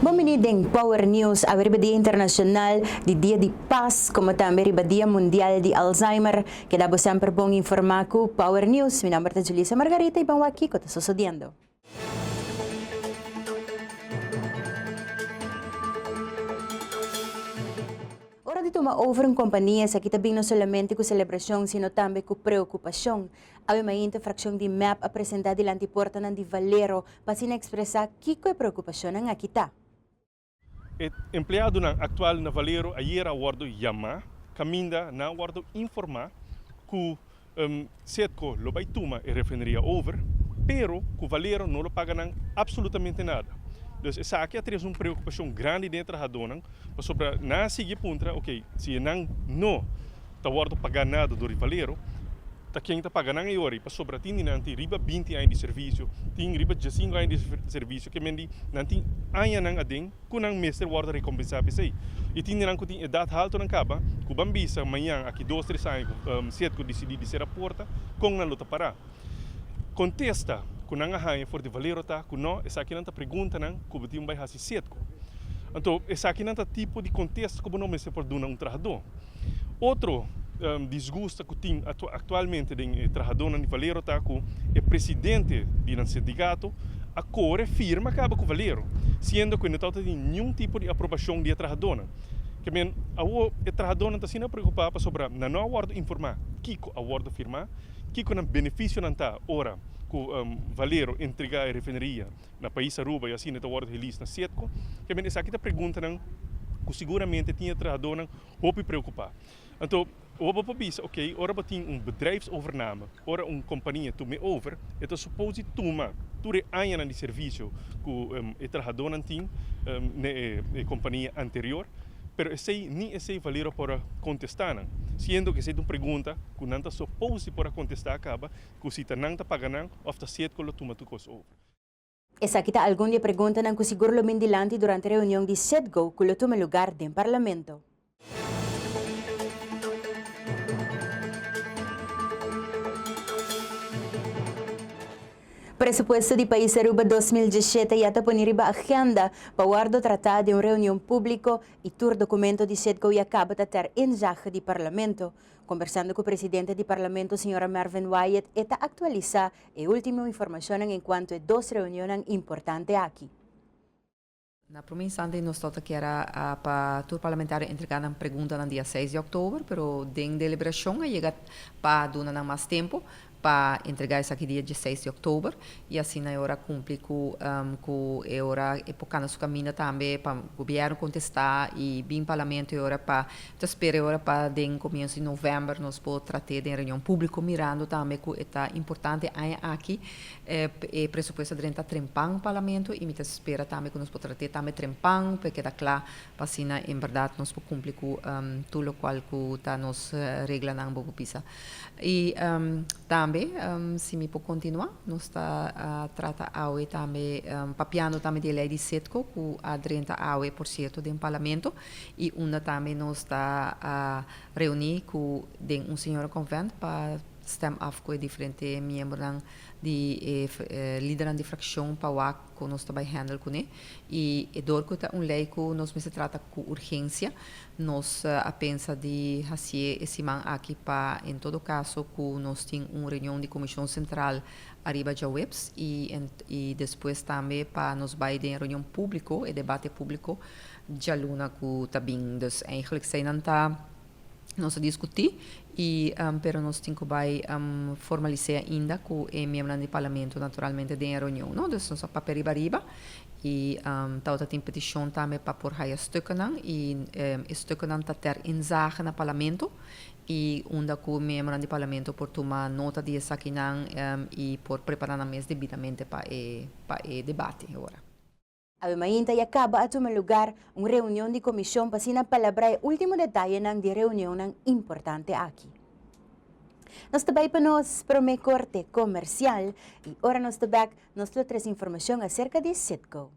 Bon bini den Power News, awe riba Dia Internacional di Dia di Paz como tambe riba Dia Mundial di Alzheimer. Keda bo semper bon informa cu Power News. Mi nomber ta Julissa Margarita y banwa kico ta sosodiendo. Ora di tuma over un compania esaki ta bin no solamente cu celebracion sino tambe cu preocupacion. Awe mainta frakshon di mep a presentá dilanti puertanan di Valero pa asina ekspresá kiko e preokupashonnan aki ta. E empleadonan aktual na Valero ayera a wòrdu yamá kaminda nan a wòrdu informá ku Sedco lo bai tuma e refineria over, pero ku Valero no lo paga nan apsolutamente nada. Dus esaki a tres un preokupashon grandi den e trahadónan pasobra nan a sigui puntra, ok, si nan no. ta wòrdu pagá nada dor di Valero, ta ken ta paga nan e ora i pasobra tin di nan tin riba binti aña di servisio, tin riba djasinku aña di servisio, ke men di nan tin añanan aden ku nan mester wòrdu rekompensá p'esei. I tin di nan ku tin edat haltonan kaba ku ban bisa mañan aki dos tres aña ku siet ku disidí di sera porta, kon nan lo ta pará? Kontesta ku nan a haña for di Valero ta ku nò, esakinan ta preguntanan ku bo tin bai hasi siet ku. Anto esakinan ta tipo di kontesta ku bo no mester por duna un trahadó. Otro disgusto ku tin aktualmente den e trahadónan di Valero ta ku e presidente di nan sindikato a kore firma kaba ku Valero, siendo ku e no tabata tin niun tipo di aprobashon di e trahadónan. Ke men, awo e trahadónan ta asina preokupá pasobra nan no a wòrdu informá kiko a wòrdu firmá, kiko nan benefisionan ta ora ku Valero entregá e refineria, na pais Aruba i asina ta wòrdu helis na Setco. Kèmen, esaki ta preguntanan ku siguramente tin e trahadónan hopi preokupá. Anto, awor bo por bisa, ok, ora bo tin un bedrijfsovername, ora un kompania tume over, e ta supos di tuma tur e añanan di servisio ku e trahadónan tin na e kompania anterior, pero esei ni esei Valero a por a kontestá nan, siendo ku esei ta un pregunta ku nan ta supos di por a kontestá kaba ku si ta nan ta paga nan òf ta Setco lo tuma tur kos over. Esaki ta algun di e preguntanan ku sigur lo bin dilanti durante reunion di Citgo ku lo tuma lugar den Parlamento. Presupuesto di Pais Aruba dos mil diesete ya ta pone riba agenda pa wòrdu tratá den un reunion públiko i tur dokumento di Citgo ya kaba ta ter inzage di Parlamento. Kombersando ku presidente di Parlamento señora Mervyn Wyatt e ta aktualisá E ultimo informacionnan en cuanto e dos reunionnan importante aki. Na prome instante nos tabata kier a pa tur parlamentario entrega nan pregunta nan dia seis di oktober, pero den deliberacion a yega pa duna nan mas tempo pa entrega esaki dia dieseis di oktober y asina e ora cumpli cu cu e ora e por cana su caminda tambe pa gobierno contesta y bin parlamento e ora pa Ta spera e ora pa den comienzo di november nos por trate den reunion publico mirando tambe cu e ta importante aña aki e presupuesto dren ta trempan parlamento y mi ta spera tambe cu nos por trate tambe trempan pa e keda cla pa asina en berdad nos por cumpli cu tur locual cu ta nos reglanan bobo bisa. Y tambe si mi por continua nos ta trata awe tambe papiando tambe di e ley di Cetco cu a drenta awe por cierto den parlamento. I unda tambe nos ta reuní ku den un señora konvènt pa stèm af ku e diferente miembronan di e lidernan di frakshon pa wak kon nos ta bai hèndel kuné. I e dor ku ta un lei ku nos mester trata ku urgensia, nos a pensa di hasié e siman aki pa en todo kaso ku nos tin un reunion di komishon sentral ariba djaweps i despues tambe pa nos bai den reunion públiko, e debate públiko, djaluna cu ta bin. Dus eigenlijk sa e nan ta nos a discuti y pero nos tin cu bay formalis'e ainda cu e miembronan di Parlamento naturalmente den e reunion no. Dus nos a papia riba riba y tawata tin peticion tambe pa por haya stukennan y e stukennan ta ter inzage na Parlamento y unda cu miembronan di Parlamento por tuma nota di esakinan y por prepara nan mes debidamente pa e debate. Awe mainta ya kaba a tuma lugar un reunion di komishon pa asina palabra e último detayenan di e reunionnan importante aki. Nos ta bai pa nos promé korte komersial i ora nos ta bèk nos lo tres informashon aserka di Citgo.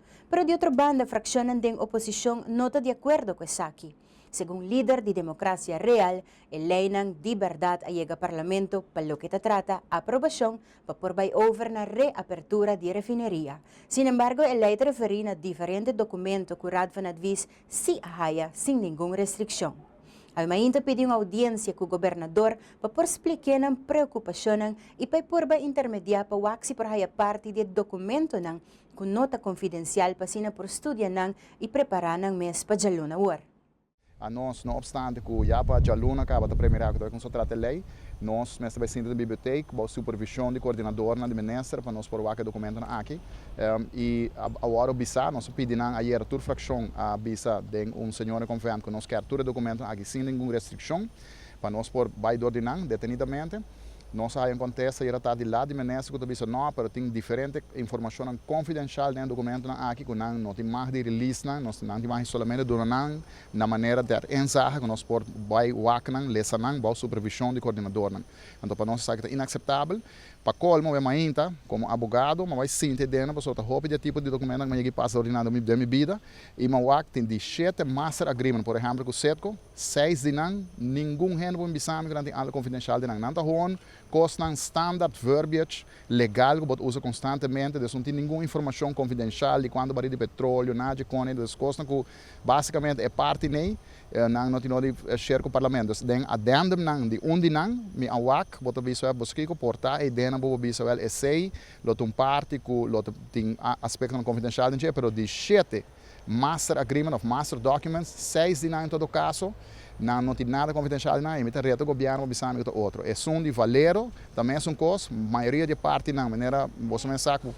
Pero di otro banda fraccionnan den oposicion no ta di acuerdo cu esaki. Segun lider di Democracia Real, e leynan di berdad a yega Parlamento pa loke ta trata aprobacion pa por bay over na re-apertura di e refineria. Sin embargo e ley ta referi na diferente documento cu Raad van Advies si a haya sin ningun restriccion. Awe Mahin ta pidi un audiencia cu gobernador pa por spliké nan preocupacionnan y pa e purba intermedia pa wak si por haya parti di e documentonan ku no ta konfidensial pa asina por studia nan i prepará nan mes pa djaluna awor. A Nos, no opstante ku ya pa djaluna kaba ta premi rato ku nos a trata e lei, nos mester bai sinta den bibliotek bou supervishon di kordinadornan di minister pa nos por wak e dokumentonan aki. I awor a bisa, nos a pidi nan ayera tur frakshon a bisa den un señor di konvènt ku nos kèr tur e dokumentonan aki sin ningun restrikshon pa nos por bai dor di nan detenidamente. Nos a haya un contesta y era ta di lado di Minister cu ta bisa no, pero tin diferente informacionnan confidencial den e documentonan aki cu nan no tin mag di release nan, nos nan tin mag di solamente duna nan na manera ter enzaha cu nos por bay wak nan, lesa nan bao supervision di coordinadornan. Anto pa nos esaki ta inaceptabel. Pa colmo we mainta como abogado m'ha bay sinti e deno pasobra ta hopi di e tipo di documentonan cu m'ha yega y pasa ordinando den mi bida y m'ha wak tin di shete master agreement, por ehempel cu Setco, Seis di nan, ningun hende por bisa mi ku nan tin algu konfidenshal di nan. Nan ta hon kosnan standard verbiage legal ku bo ta usa konstantemente, deso no tin ningun informashon konfidenshal di kuantu barid'i petrolio, nadje kone des kosnan ku basikamente e parti nei nan no tin no di sher ku parlamento. Deso den addendumnan di un di nan, mi a wak bo ta bisa wèf bo skiko por ta e idenan bo bo bisa wèl esei lo ta un parti ku lo ta tin aspektonan konfidenshal den dje, pero di shete. Master Agreement of Master Documents, seis di nan en todo caso, nan no tin nada confidencial di nan, y mi ta reta e gobierno pa bisa mi cu ta otro. Esun di Valero ta mesun cos, mayoria di e partinan manera boso mes sa cu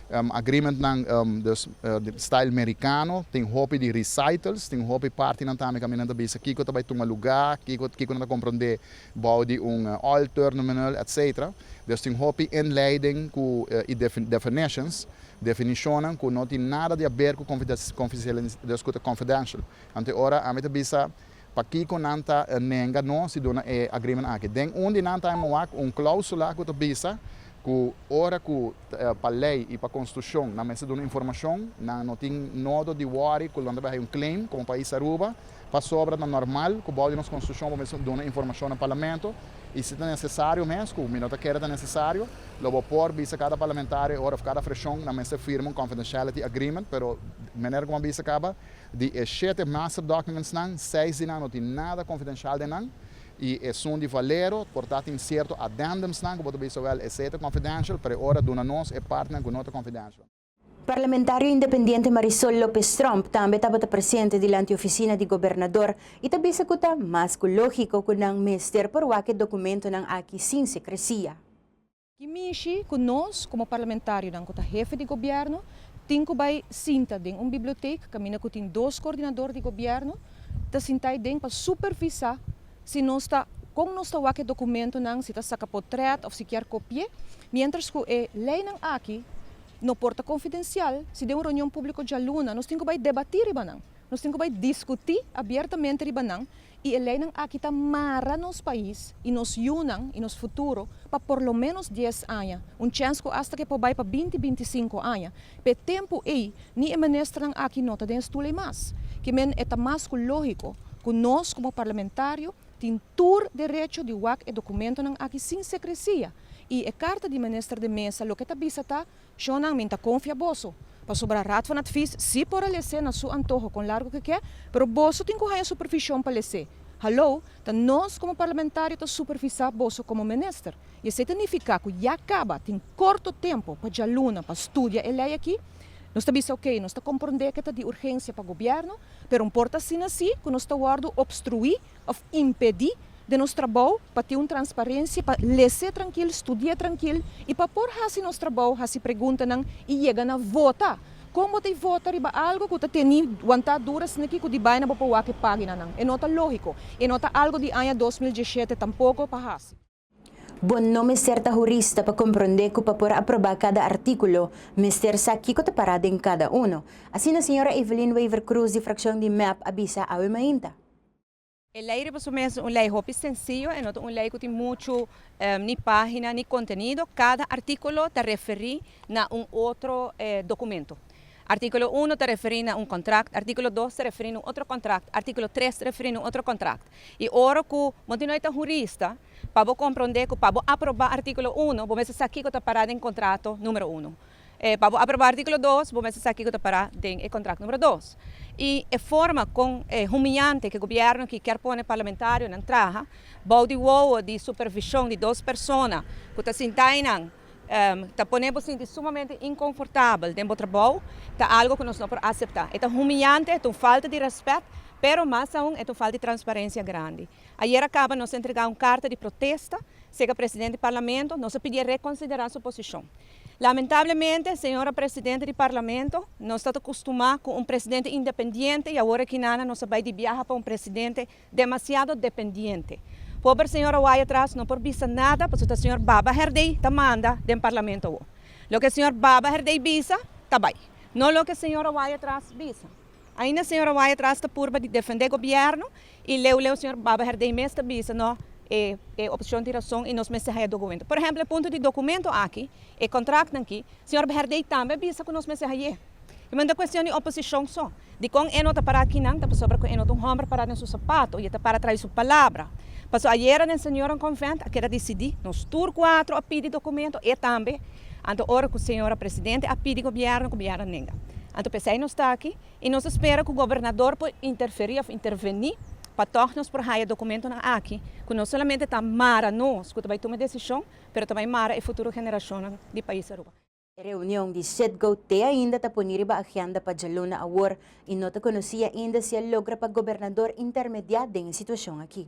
agreementnan dus style mericano, tin hopi di recitals, tin hopi partinan tambe cu a mi nan ta bisa kico ta bay tuma lugar, kico kico nan ta comprende bao di un all-terminal, etcetera. Dus tin hopi inleiding cu y definitions. Definishonnan ku no tin nada di aber ku konfidensialidat ku ta confidential. Anto e ora ami ta bisa pakiko nan ta nenga nos di duna e agreement aki. Den un di nan ta en MOAC un klausula ku ta bisa ku ora ku pa lei i pa konstitushon nan mester duna informashon, nan no tin nodo di wòri ku lo nan ta bai un claim komo pais Aruba. Pasobra ta normal ku bou di nos konstitushon bo mester duna informashon na Parlamento i si ta nesesario mes, ku mi no ta kere ta nesesario, lo bo por bisa kada parlamentario e ora òf kada frashon nan mester firma un confidentiality agreement, pero di manera ku bo a bisa kaba, di e shete master documentsnan, seis di nan no tin nada konfidenshial den nan i esun di Valero, por ta tin sierto addendumsnan ku bo ta bisa wèl esei ta confidential, pero e ora duna nos e partinan ku no ta confidential. Parlamentario independiente Marisol Lopez Tromp tambe tabata presente dilanti ofisina di gobernador y ta bisa cu ta mas cu logico cu nan mester por wak e documentonan aki sin secrecia. Ki mishi cu nos, como parlamentarionan cu ta hefe di gobierno, tin cu bay sinta den un biblioteek caminda cu tin dos coordinador di gobierno ta sintai den pa supervisa Si nos ta, kon nos ta wak e dokumentunan, si ta saka potrèt òf si kier kopi'é? Miéntras ku e leinan aki no por ta konfidensial, si den un reunion públiko djaluna nos tin ku bai debatí riba nan, nos tin ku bai diskutí abiertamente riba nan, i e leinan aki ta mara nos pais i nos yunan i nos futuro pa por lo ménos dies aña, un chèns ku asta ke por bai pa binti binti sinku aña. P'e tempu ei Ni e ministernan aki no ta den stul ei mas. Ki men e ta mas ku lógiko ku nos komo parlamentario tin tur derecho di wak e dokumentonan aki sin sekresia i e karta di minister de Mesa loke ta bisa ta, Shonnan, mi ta konfia boso, pasobra Raad van Advies si por a les'é na su antoho kon largu ke ke, pero boso tin ku haña supervishon pa les'é. Haló, ta nos komo parlamentario ta supervisá boso komo minister. I esei ta nifiká ku ya kaba tin korto tempu pa djaluna pa studia e lei aki. Nos ta bisa, Oke, nos ta komprondé ku e ta di urgensia pa gobièrnu, pero un por ta asina si ku nos ta wòrdu opstruí òf impedí den nos trabou pa tin un transparensia pa lesé trankil, studié trankil i pa por hasi nos trabou, hasi preguntanan i yega na vota. Kon bo ta e vota riba algu ku ta teni wantá dur asina ki ku di baina bo pa wak e páginanan? E no ta lógiko. E no ta algu di aña dos mil diesshete tampoko pa hasi. Bo no mester ta hurista pa komprondé ku pa por aprobá kada artíkulo mester sa kiko ta pará den kada unu. Asina señora Evelyn Wever Cruz di frakshon di mep a bisa awe mainta. E lei riba su mes ta un lei hopi sensiyo, e no ta un lei ku tin muchu ni página ni kontenido. Kada artíkulo ta referí na un otro dokumento. Artíkulo uno ta referí na un kontrakt, artíkulo dos ta referí na un otro kontrakt, artíkulo tres ta referí na un otro kontrakt. I ora ku bo tin noi ta hurista, pa bo komprondé ku pa bo aprobá artíkulo uno, bo mester sa kiko ta pará den kontrato número uno. E pa bo aprobá artíkulo dos, bo mester sa kiko ta pará den e kontrakt número dos. I e forma kon e humiante ke gobièrnu aki kèr pone parlamentarionan traha, bou di wowo di supervishon di dos persona ku ta sintá einan, ta pone bo sinti sumamente inkonfortabel den bo trabou ta algo ku nos no por aseptá. E ta humiyante, e ta un falta di rèspèt, pero mas aun e ta un falta di transparensia grandi. Ayer a kaba nos a entregá un karta di protesta serka presidente di Parlamento, nos a pidi e rekonsiderá su posishon. Lamentablemente, señora presidente di Parlamento, nos ta ta kustumá ku un presidente independiente i awor e kinan nos a bai di biaha pa un presidente Demasiado dependiente. Pober señor a wai atras no por bisa nada paso ta señor Baba Herdey ta manda den parlamento awo. Loke señor Baba Herdey bisa ta bai. No loke señor a wai atras bisa. Ainda señor a wai atras ta purba di defende gobierno y leu leu señor Baba Herdey mes ta bisa no e e oposicion tin rason y nos mester haya documento. Por ehemplo e punto di documento aki, e contractnan ki, señor Herdey tambe a bisa cu nos mester haye. I manda cuestion di oposicion so. Dicon e no ta para akinan? Ta pasobra cu e no ta un homber para den su sapato y e ta para trae su palabra. Paso ayera den Señoran Convent a keda dicidi, nos tur cuatro a pidi documento, e tambe. Anto ora cu Señora Presidente a pidi Gobierno, Gobierno a nenga. Anto pesey nos ta aki y nos ta spera cu Gobernador por interferi of interveni pa toch nos por haya documentonan aki cu no solamente ta mara nos cu ta bay tuma decision pero ta bay mara e futuro generacionnan di pais Aruba. E reunion di Citgo te ainda ta poni riba agenda pa djaluna awor y no ta conoci ainda si a logra pa gobernador intermedia den e situacion aki.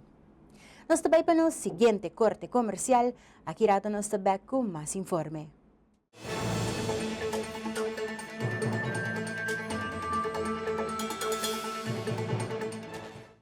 Nos ta bay pa nos siguiente corte comercial, aki rato nos ta back cu mas informe.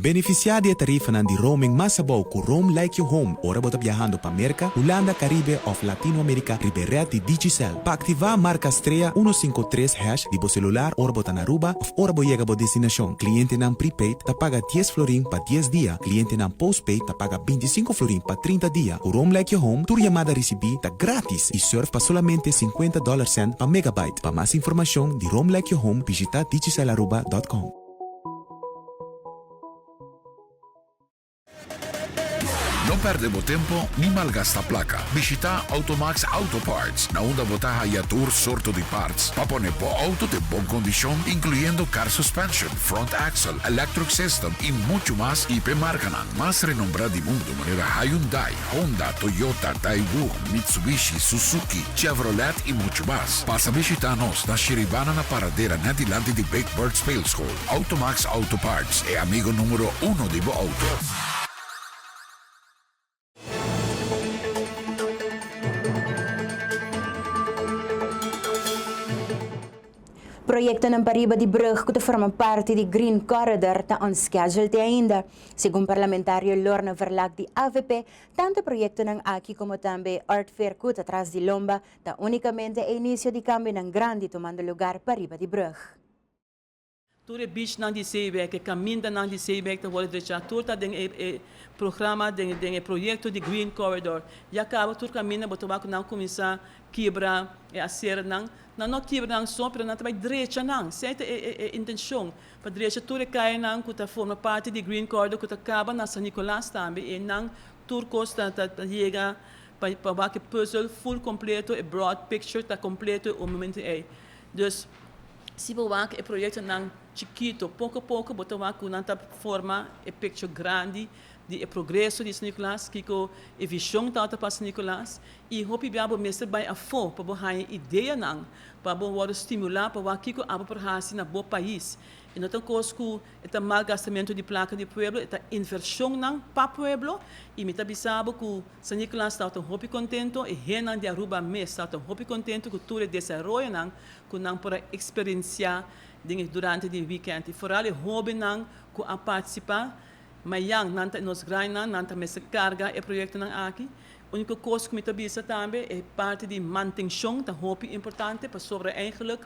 Beneficiá di e tarifanan di roaming mas abou cu Roam Like Your Home ora bo ta biahando pa Merca, Hulanda, Caribe of Latino America riba e red di Digicel. Pa activá marca strea uno cinco tres hash di bo celular ora bo ta na Aruba, Ora bo yega bo destinashon, klientenan prepaid ta paga dies florin pa dies dia, klientenan postpaid ta paga binti sinku florin pa trinta dia. Ku Roam Like Your Home, tur yamada risibí ta gratis i surf pa solamente sinkuenta dollar cent pa megabyte. Pa mas informashon di Roam Like Your Home, bishitá digicelaruba dòt kòm. No pèrdè bo tempu ni malgastá plaka. Bishitá Automax Auto Parts, na unda bo ta haya tur sorto di parts pa pone bo outo den bon kondishon, inkluyendo car suspension, front axle, electric system i muchu mas i p'e markanan mas renombrá di mundu manera Hyundai, Honda, Toyota, Daewoo, Mitsubishi, Suzuki, Chevrolet i muchu mas. Pasa bishitá nos na Shiribana na paradera nèt dilanti di Big Bird Speelschool. Automax Auto Parts, e amigo numero uno di bo auto. Proyectonan pa riba di brug cu ta forma parti di Green Corridor ta on schedule te ainda. Segun Parlamentario Lorna Verlaque di avp, tanto proyectonan aki como tambe Artfair cut atras di lomba ta unicamente e inicio di cambionan grandi tomando lugar pa riba di brug. Tur e bichnan di Seibèk, e kamindanan di Seibèk ta wòrdu drechá tur ta den e programa, den e proyekto di Green Corridor. Ya kaba tur kaminda bo ta wak ku nan kuminsá kibra e asernan. Nan no kibra nan so, pero nan ta bai drecha nan. Esei ta e intenshon, pa drecha tur e kayanan ku ta forma parti di Green Corridor ku ta kaba na San Nicolas tambe. E nan tur kos ta yega pa wak e puzzle full kompleto, e broad picture ta kompleto e un momentu ei. Dus Si bo wak e proyektonan chikito, poko poko bo ta wak ku nan ta forma e pikcho grandi di e progreso di San Nikolaas, kiko e vishon tabata pa San Nikolaas. I hopi bia bo mester bai afó pa bo haña ideanan, pa bo wòrdu stimulá pa wak kiko abo por hasi na bo pais. E no ta kos ku e ta malgastamentu di plaka di pueblo, e ta invershonnan pa pueblo. I mi ta bisa bo ku San Nikolaas tabata hopi kontentu, e hennan di Aruba mes tabata hopi kontentu ku tur e desaroyonan ku nan por a eksperensiá den e durante di e wikènt i foral e hóbennan ku a partisipá. Mayan nan ta e nos grainnan, nan ta mester karga e proyektonan aki. Úniko kos ku mi ta bisa tambe e parti di mantenshon ta hopi importante pasobra eingelik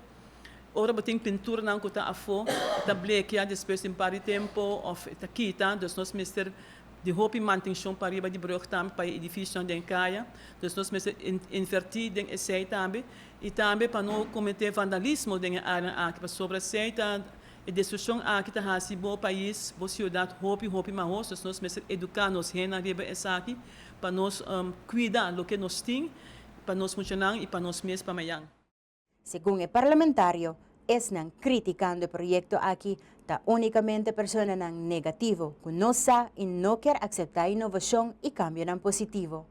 ora bo tin pinturanan ku ta afó e ta blekia despues di un par di tempu òf e ta kita. Dus nos mester di hopi mantenshon pariba di brùg tambe pa e edifisionan den e kaya. Dus nos mester invertí den esei tambe. I tambe pa no kometé vandalismo den e árean aki, pasobra esei ta e destrushon aki ta hasi bo pais, bo siudat hopi hopi mahoos. Dus nos mester eduká nos hennan riba esaki pa nos kuida loke nos tin pa nos muchanan i pa nos mes pamayan. Segun e parlamentario, esnan kritikando e proyekto aki ta únikamente personanan negativo ku no sa i no kier akseptá inovashon i kambionan positivo.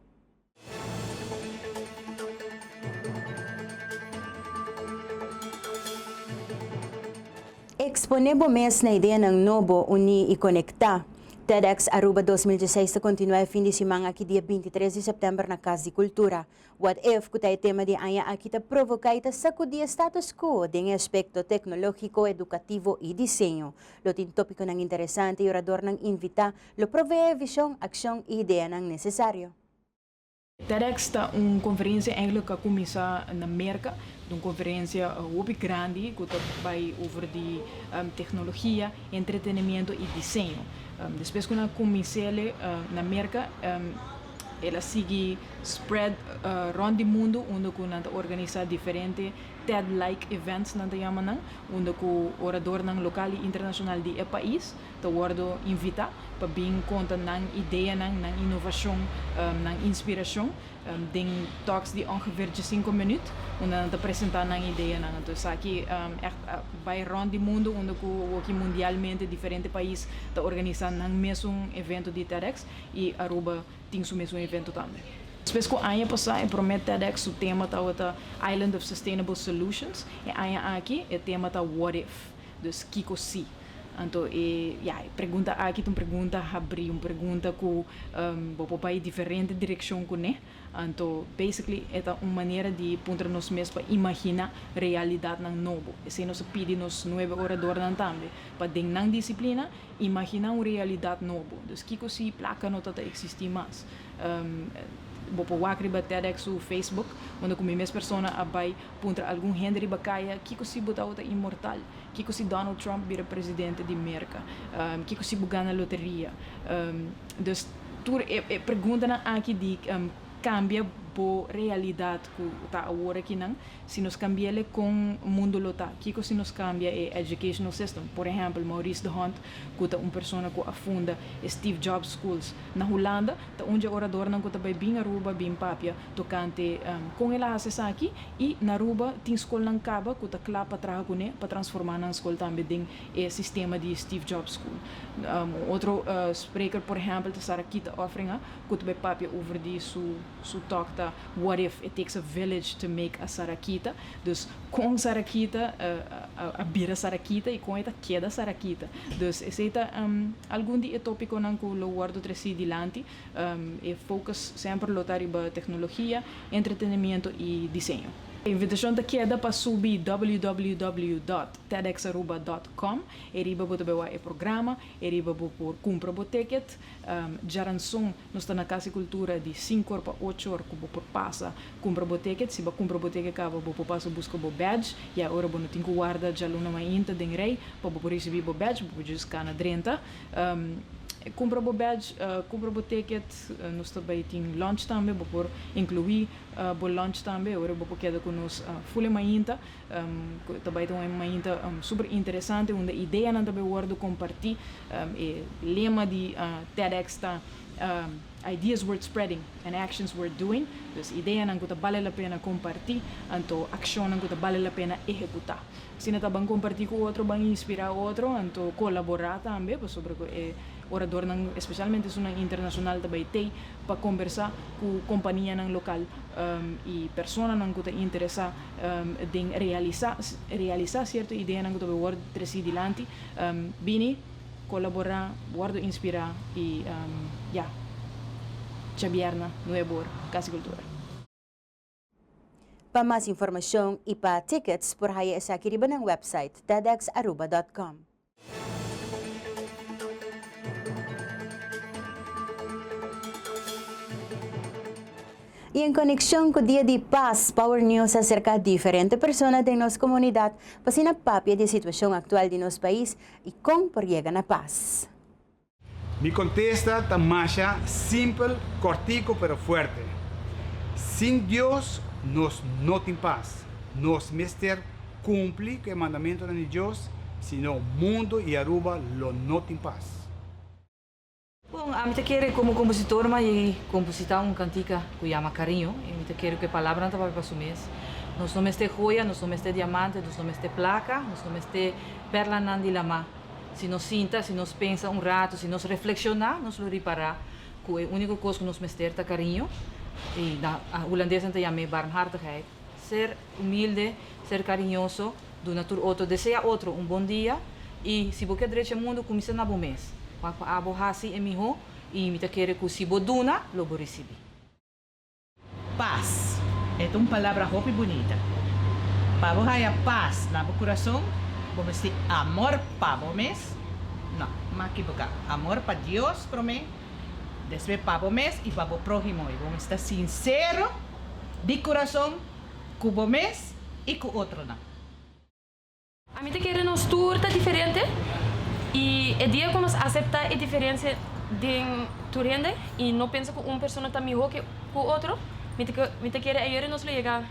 Eksponé bo mes na ideanan nobo, uní i konektá. TEDx Aruba dos mil diesiseis ta kontinuá e fin di siman aki dia binti tres di sèptèmber na Kas di Kultura. What If, ku ta e tema di aña aki, ta provoká i ta sakudí e status quo den e aspekto teknológiko, edukativo i diseño. Lo tin tópikonan interesante i oradornan invitá Lo provee vision, accion y ideanan necesario. TEDx ta un conferencia eigenlik cu a cuminsa na Merca. Ta un conferencia hopi grandi cu ta bay over di tecnologia, entretenimiento y diseño. Despues cu nan cuminsele na Merca el a sigui spread rond di mundo unda cu nan ta organisa diferente TED-like events nan ta yama nan, unda cu oradornan local y internacional di e pais Ta wordo invita pa bin konta nan ideanan, nan inovashon, nan inspirashon den talks di ongeveer djesienko minuut unda nan ta presenta nan ideanan. Anto esaki ègt a bai rònt di mundu unda ku woki mundialmente diferente pais ta organisa nan mesun evento di TEDx i Aruba tin su mesun evento tambe. Despues ku aña pasá e promé TEDx su tema tabata Island of Sustainable Solutions, e aña aki e tema ta What if? Dus kiko si? Anto e, ya, e pregunta aki ta un pregunta habrí, un pregunta ku bo por bai diferente direkshon kuné. Anto, basically, e ta un manera di puntra nos mes pa imaginá realidatnan nobo. Esei nos ta pidi nos nuebe oradornan tambe, pa den nan disiplina imaginá un realidat nobo. Dus kiko si plákano ta ta eksistí mas? Bo por wak riba TEDx su Facebook, unda ku mi mes persona a bai puntra algun hende riba kaya, Kiko si bo ta tabata inmortal? Kiko si Donald Trump bira presidente di Merka? Kiko si bo gana loteria? Dus tur e preguntanan aki di kambia bo realidad ku bo ta awor akinan, si nos kambiae kon mundo lo ta? Kiko si nos kambia e educational system? Por ehempel, Maurice de Hond, ku ta un persona ku a funda e Steve Jobs Schools na Hulanda, ta un dje oradornan ku ta bai bin Aruba bin papia tokante kon el a hasi esaki i na Aruba tin skolnan kaba ku ta kla pa traha kuné pa transformá nan skol tambe den e sistema di Steve Jobs School. Un otro spreker por ehèmpel ta Sarakita Offringa ku ta bai papia over di su su tòk ta What if it takes a village to make a Sarakita? Dus kon Sarakita a bira Sarakita i kon e ta keda Sarakita? Dus esei ta algun di e tópikonan ku lo wòrdu tresí dilanti. E focus semper lo ta riba tecnologia, entretenimiento y diseño. E invitacion ta keda pa subi www.tedxaruba dot com, e riba bo ta bai wak e programa, e riba bo por cumpra bo ticket. Djaranzon nos ta na Casa y Cultura di sinku or pa ocho or cu bo por pasa cumpra bo ticket. Si bo a cumpra bo ticket caba bo por pasa busca bo badge, ya e ora bo no tin cu warda djaluna mainta den rey pa bo por ricibi bo badge, bo por djus cana drenta. Cumpra bo badge, cumpra bo ticket, nos ta bay tin lunch tambe, bo por inclui bo lunch tambe ora bo por keda cu nos full e mainta, ta bay ta un mainta super interesante unda ideanan ta bay wordo comparti, e lema di TEDx ta Ideas worth spreading and actions worth doing, dus ideanan cu ta bale la pena comparti, anto accionnan cu ta bale la pena ehecuta. Si no ta ban kompartí ku otro, ban inspirá otro, anto kolaborá tambe, pasobra ku e oradornan, espesialmente esunnan internashonal, ta bai tei pa kombersá ku kompanianan lokal i personanan ku ta interesá den realisá realisá sierto ideanan ku ta por wòrdu tresí dilanti. Bini, kolaborá, wòrdu inspirá i ya! Djabièrna, nuebu or, Casa y Cultura. Pa mas informacion y pa tickets por haya esaki riba nan website tedxaruba.com. Y en conexion cu Dia di Paz, Power News a cerca diferente persona den nos comunidad pa asina papia di e situacion actual di nos pais y con por yega na paz. Mi contesta ta masha simpel, cortico pero fuerte, Sin Dios nos no tin paz. Nos mester cumpli cu e mandamentonan di Dios, si no mundo y Aruba lo no tin paz. Bon, ami ta kere como compositor ma e composita un cantica cu yama Cariño y mi ta kere cu e palabranan ta papia pa su mes, Nos no mester hoya, nos no mester diamante, nos no mester placa, nos no mester perlanan di lamá. Si nos sinta, si nos pensa un ratu, si nos reflekshoná, nos lo ripará ku e úniko kos ku nos mester ta kariño, i hulandesnan ta yam'é barmhartigheid. Ser humilde, ser kariñoso, duna tur otro, desea otro un bon dia, i si bo ke drecha mundu, kuminsá na bo mes. Wak pa abo hasi e mihó, i mi ta kere ku si bo duna, lo bo risibí. Pas e ta un palabra hopi bunita. Pa bo haya pas na bo kurason, bo misti amor pa bo mes, no, m'a kiboká, amor pa Dios promé, despues pa bo mes i pa bo próhimo. I bo misti ta sinsero di kurason ku bo mes i ku otronan. A mi ta kere nos tur ta diferente i e dia ku nos aseptá e diferensia den tur hende i no pensa ku un persona ta mihó ku otro, mi ta kere ayere nos lo yega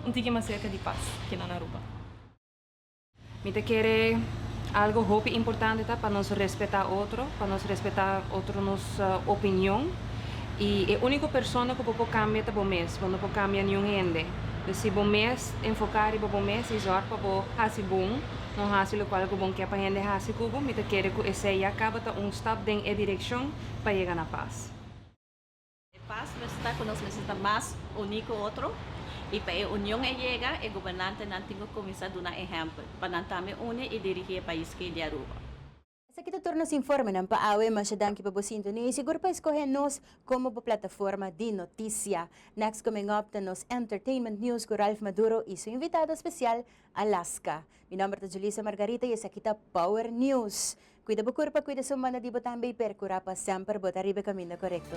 un tiki mas serka di pas ke nan a Aruba. Mi ta kere algu hopi importante ta pa nos respetá otro, pa nos respetá otro nos opinion i e úniko persona ku bo por kambia ta bo mes, bo no por kambia niun hende. Pues si bo mes Enfoká riba bo mes i zòr pa bo hasi bon. No hasi lokual ku bon ke pa hende hasi ku bo. Mi ta kere ku esei ya kaba ta un stap den e direkshon pa yega na pas. E pas mester ta ku nos mester ta mas uní ku otro, i pa e union ei yega, e gobernantenan tin ku kuminsá duna ehèmpel pa nan tambe uni i dirigí e pais ke di Aruba. Esaki ta tur nos informenan pa awe. Masha danki pa bo sintonia y sigur pa escohe nos como bo plataforma di noticia. Next coming up ta nos Entertainment News cu Ralph Maduro y su invitado especial Alaska. Mi nomber ta Julissa Margarita y esaki ta Power News. Cuida bo curpa, cuida su manda di bo tambe y percura pa semper bo ta riba e caminda corecto.